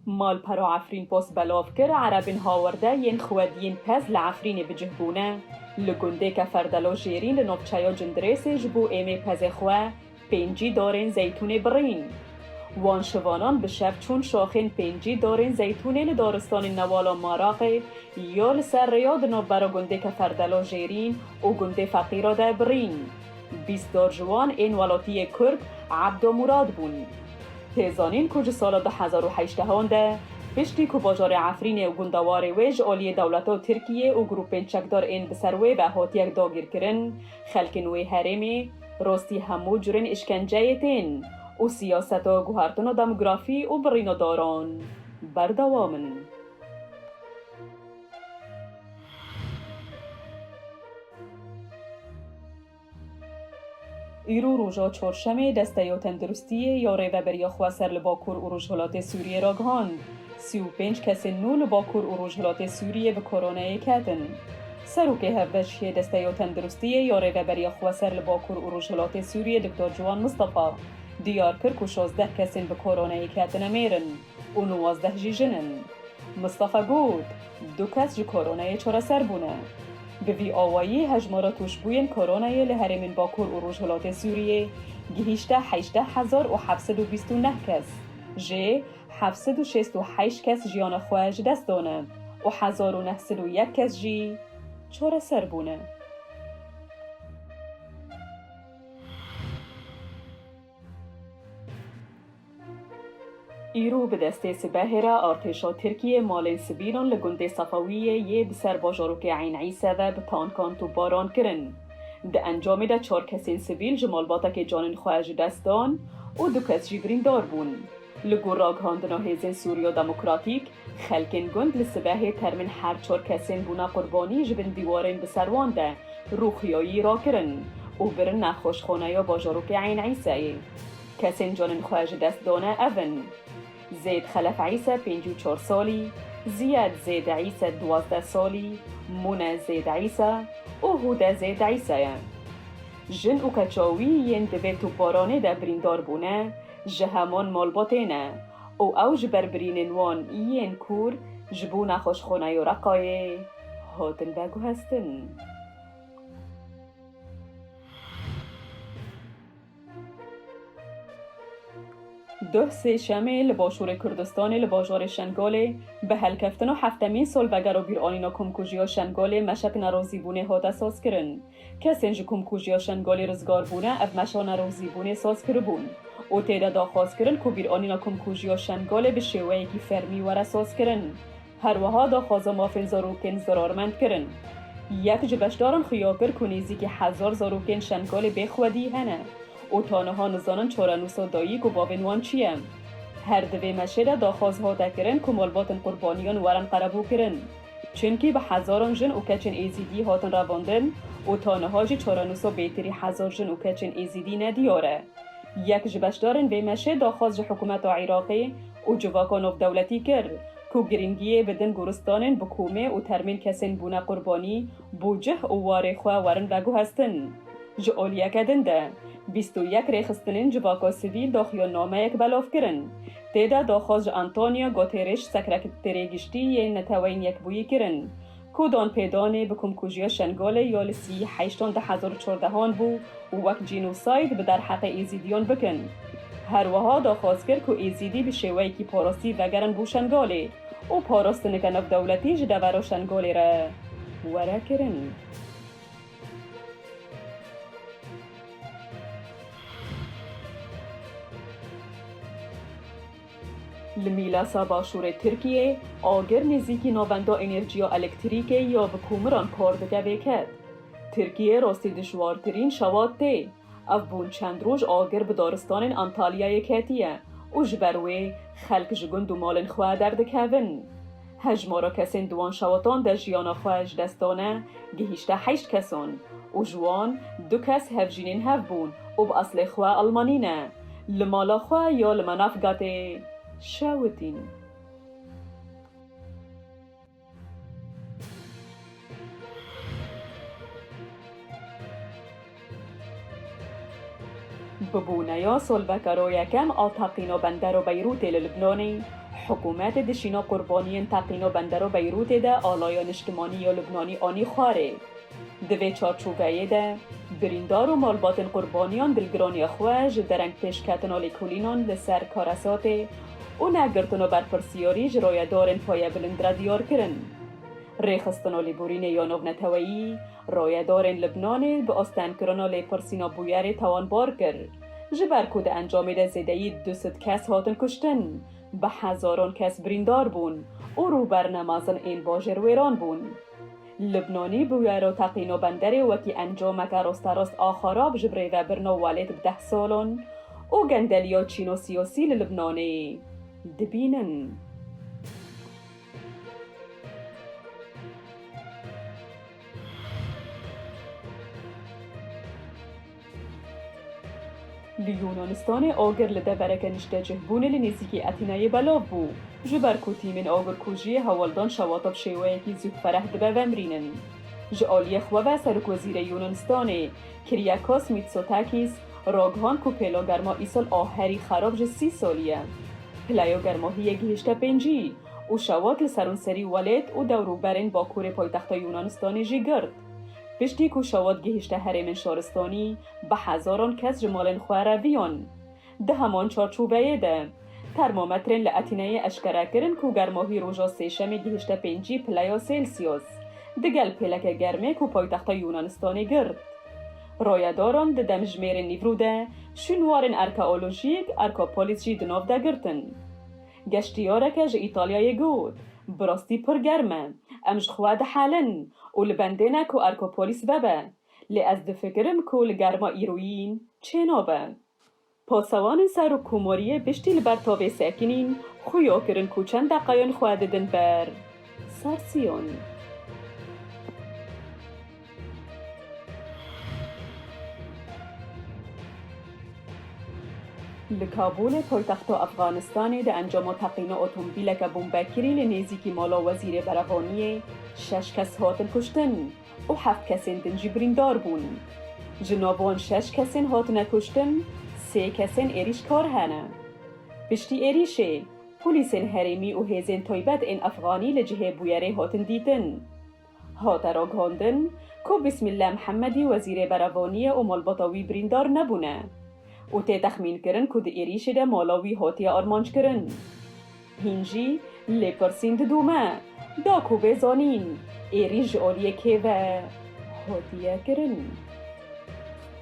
Malpera Efrînpos belav kir, Erebên Hawerde yên xwediyên pez li Efrînê bi cih bûne. Li gundê Keferdelo Jêrîn li navçeya Cindirêsê ji bo êmê pezê xwe Pêncî darên zeytûnê birîn. Wan şivanan bi şev çûn şaxên pêncî darên zeytûnê li daristanên newala Maraqê ya li ser rêya di navbera gundê Keferdelo Jêrîn û gundê Feqîra de birîn. Bîst dar ji wan ên welatiyê Kurd Ebdo Mûrad bûn. Tê zanîn ku ji sala du hezar û heşt an de piştî ku bajarê Efrînê û gunda warê wê ji aliyê dewleta Tirkiyê û grûpên çekdar ên bi ser wê ve hatiyek dagîrkirin, xelkên wê herêmê, Rostî hemû curên îşkenceyê tên û siyaseta guhertina demografî û birîna daran berdewam in. Îro roja Çarşemê Desteya Tenduristiyê ya Rêveberiya xwe ser li Bakur û Rojhilatê Sûriyê ragihand, sî û pênc kesên nû li Bakur û Rojhilatê Sûriyê bi koronayê ketin. Serokê Hevbeşiyê Desteyo Tenduristiyê yo Rêveberiya Xweser li Bakur û Rojhilatê Sûriyê Doktor Ciwan Mistefa diyar kir ku şozdeh kesên bi koronayê ketine mêr in û nuwazdeh jî jin in. Mistefa got, Du kes ji koronayê çareser bûne. Bi vî awayî hejmara tûşbûyên koronayê li herêmên Bakur û Rojhilatê Sûriyê gihîşte heştdeh hezar û heft sed û bîst û neh kes, jê heft sed û şêst û heşt kes jiyana xwe ji dest dane û hezar û neh sed û yek kes jî çareser bûne. Îro bi destê sibehê re artêşa Tirkiyê malên sivîlan li gundê Sefawiyê yê bi ser bajarokê Eyn Îse ve bi tankan topbaran kirin. Di encamê de çar kesên sivîl ji malbatekê canên xwe ji dest dan û du kes jî birîndar bûn. Li gor ragihandina Hêzên Sûriya Demokratîk, xelkên gund li sibehê termên her çar kesên bûna qurbanî ji bin dîwarên bi ser wan de rûxiyayî rakirin û birin nexweşxaneya bajarokê Eyn Îseyê. Kesên canên xwe ji dest dane ev in, Zêd Xelef Îse pêncî û çar salî, Ziyed Zêd Îse duwazdeh salî, Mune Zêd Îse û Hude Zêd Îse ye. Jin û keça wî yên di vê topbaranê de birîndar bûne, ji hemûn malbatê ne û ew ji ber birînên wan yên kûr ji bo nexweşxana Yorakayê hatin veguhestin. Duh Sêşemê li başûrê Kurdistanê li bajarê Şengalê bi helkeftina heftemîn salvegera bîranîna komkujiya Şengalê meşek nerazîbûnê hate sazkirin. Kesên ji komkujiya Şengolê rizgar bûne ev meşa nerozîbûnê saz kiribûn û tê de daxwaz kirin ku bîranîna komkujiya Şengolê bi şêweyekî fermî were sazkirin. Her wiha daxwaza mafên zarokên zirarmend kirin. Yek ji beşdaran xuya kir ku nêzîkî hezar zarokên Şengolê bê xwedî hene û ta niha nizanin çarenûsa dayîk û bavên wan çi ye. Her di vê meşê de daxwaz hate kirin ku malbatên qurbaniyan werin qerebûkirin. Çimkî bi hezaran jin û keçên Êzîdî hatin revandin û ta niha jî çarenûsa bêtirî hezar jin û keçên Êzîdî ne diyar e. Yek ji beşdarên vê meşê daxwaz ji hikûmeta Iraqê û civaka navdewletî kir ku girîngiyê bidin goristanên bi komê û termên kesên bûne qurbanî bo cih û warê xwe werin veguhestin. Ji aliyeke din de bîst û yek rêxistinên civaka sivîl daxuyannameyek belav kirin. Tê de doxoz ji Antonio Goterêş Sekrekerê Giştî yê Neteweyên Yekbûyî kirin, ku don pê donê bi komkujiya Şengolê ya li sî heştan di hezar û çardehan bû û wek cînosayd bi derheqê Êzîdiyan bikin. Her wiha doxoz kir ku Êzîdî bi şêweyekî parastî vegerin bo Şengalê û parastinika navdewletî ji devera Şengolê re were kirin. Li Mîlasa başûrê Tirkiyê, agir nêzîkî Navenda Enêrjiya Elektrîkê ya bi komiran kar dike vêket. Tirkiye rastî dijwartirîn şewat tê. Ev bûn çend roj agir bi daristanên Antalyayê ketiye û ji ber wê xelk ji gund û malên xwe derdikevin. Hejmara kesên di wan şewatan de jiyana xwe ji dest dane gihîşte heşt kesan û ji wan du kes hevjînên hev bûn û bi eslê xwe Elmanî ne, li mala xwe ya li Manavgatê şewitîn. Bi bûneya solveka royekem a teqîna bendero Beyrûtê li Lubnanê, hikûmet di şîna qurbaniyên teqîna bendero Beyrûtê de alaya niştimanî ya Lubnanî anî xwarê. Di vê çarçoveyê de birîndar û malbatên qurbaniyan dilgiraniya xwe ji dereng pêşketina lêkolînan li ser karesatê, û negirtino berpirsîyorî ji roye dorên xwe ye bilind re dîyar kirin. Rêxistino lîbûrînê ya navneteweyî, roye dorên Libnanê bi asten kirino lêpirsîna bûyerê tawanbar kir, ji ber ku di encamê de zêdeyî du sed kes hatin kuştin, bi hezaron kes birîndar bûn û rûberne mezin ên bajêr wêran bûn. Lubnanî bi wero teqîno benderê wekî encameke rasterast a xerab ji birêve birno welêt bi deh salan û gendeliya çîno siyasî li Lubnanê dibînin. Li Yûnanistanê agir li devereke niştecihbûnê li nêzîkî Etîneyê belav bû. Ji ber ku tîmên agirkujiyê hewaldan şewata bi şêweyekî zû fereh dibe vemirînin. Ji aliyê xwe ve Serokwezîrê Yûnanistanê Kiryakos Mîtsotakîs ragihand ku pêla germa îsal a herî xerab ji sî salî ye. Pileya germahiyê gihîşte pêncî û şewat li serûnserî welêt û dewrûberên bakurê paytexta Yûnanistanê jî girt. Piştî ku şewit gihîşte herêmên şoristonî, bi hezaran kes ji malên xwe re viyan. Di heman çarçoveyê de, termometrên li Etîneyê eşkere kirin ku germahî roja Sêşemê gihîşte pêncî pileya Sêlsyos, digel pêleke germê ku paytexta Yûnanistanê girt. Rayedaran di demjimêrên nîvrû de şûnwarên erkeolojîk, erkopolis jî di nav de girtin. Geştyareke ji Îtalyayê got, Bi rastî pir germ e. Em ji xwe dihelin û li bendê ne ku Erkopolis vebe. Lê ez difikirim ku li germa îroyîn çê nabe. Pasewanên Serokkomariyê piştî li ber tavê sekinîn xuya kirin ku çend deqeyan xwe didin ber ser siyon. Li Kabûlê poytexta Efxanistanê di encama teqîna otomobîleke bombekirî li nêzîkî mala wezîrê berevaniyê şeş kes hatin kuştin û heft kesên din jî birîndar bûn. Ji nav wan şeş kesên hatine kuştin sê kesên êrîşkar hene. Piştî êrîşê, polîsên herêmî û hêzên taybet ên efxanî li cihê bûyerê hatin dîtin. Hate raghandin ku Bîsmîlle Mihemedî wezîrê berevaniye û malbata wî birîndar nebûne û tê texmînkirin ku di êrîşê de mala wî hatiye armanckirin. Hîn jî lêpirsîn didome da ku bê zanîn êrîş ji aliyê kê ve hatiye kirin.